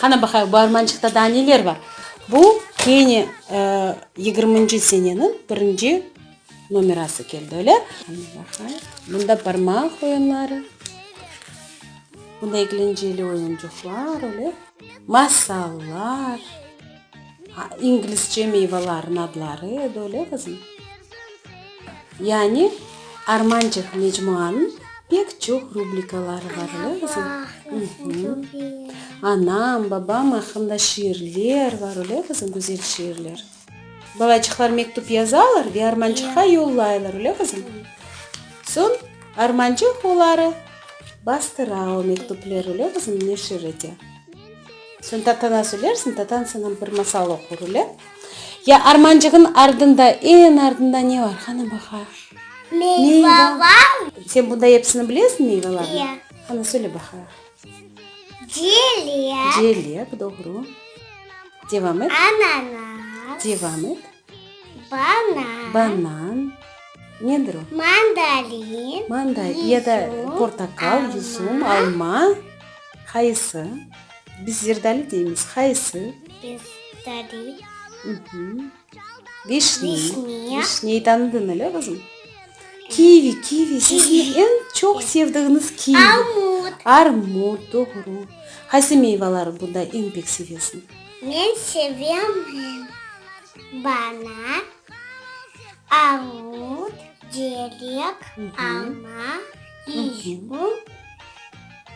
Qana baqayıq, bu armançıqta daa neler bar? Bu kene yigirminci seneniñ birinci nomerası keldi, öyle? Qana baqayıq, bunda barmaq oyunları, bunda eglenceli oyuncıqlar, öyle, masallar. İngilizce meyvelerin adları edi, öyle qızım? Yani Armançıq mecmuanıñ pek çoq rubrikaları bar, öyle qızım? Anam, babam aqqında şiirler bar, öyle qızım, güzel şiirler? Balaçıqlar mektüp yazalar ve Armançıqqa yollaylar, öyle qızım? Soñ Armançıq oları bastıra o mektüpleri, öyle qızım, neşir ete. Soñ Tatana söylersiñ, Tatan saña bir masal oqur, öyle? Ya armancığın ardında, eñ ardında ne bar? Qana baqa. Meyva bar. Sen bunday episini bilesiñ, meyvelarnıñ? Ya. Qana, söyle baqa. Celek. Celek, doğru. Devam et. Ananas. Devam et. Banan. Banan. Nedir o? Mandalin. Mandalin. Yüzüm. Ya da portakal, yüzüm, alma. Qayısı? Biz zerdali deymiz. Qayısı? Biz zerdali. Vişne. Vişne. Vişneyi tanıdın öyle qızım? Kivi, kivi. Sizni eñ çoq sevdiğiniz kivi. Armut. Armut, doğru. Qaysı meyvaları bunda eñ pek sevesiñ? Men sevemen. Bana armut, cerek, alma, izgum,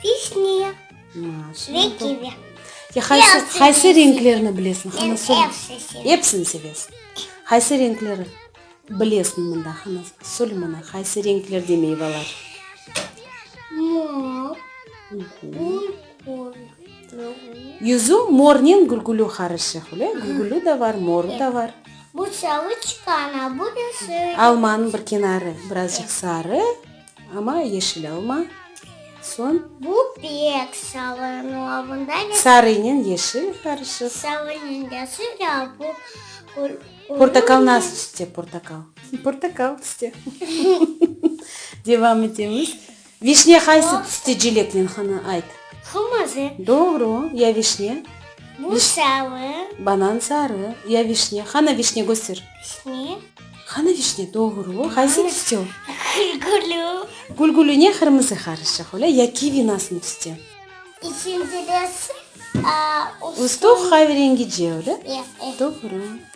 vişnıya ve kivi. Qaysı renklerni bilesiñ? Men epsini sevem. Epsini sevesiñ. Qaysı renkleri bilesiñ mında? Qana, söyle mana, qaysı renklerde meyvalar? Mor, qum. Yüzü mornen gülgülü qarışıq, öyle, gülgülü da bar, moru da bar. Bu sarı çıqan, a bu da sarı. Almanıñ bir kenarı birazcıq sarı, amma yeşil alma. Soñ. Bu pek sarı, no a bunda ne? Sarınen yeşil qarışıq. Sarınen yeşil, a bu qırmızı. Portakal nasıl tüste, portakal? Portakal tüste. Devam etemiz. Vişne haysı tüste celeknen hanı ayt? Qırmızı. Doğru. Ya vişne? Bu sarı. Banan sarı. Ya vişne? Hanı vişne köster. Vişne. Hanı vişne? Doğru. Haysı tüste o? Gülgülü. Gülgülü ne qırmızı qarışıq öyle ya kivi nasın tüste? İçinde de aa ustuq. Ustuq hayverengice öyle? Ya. Doğru.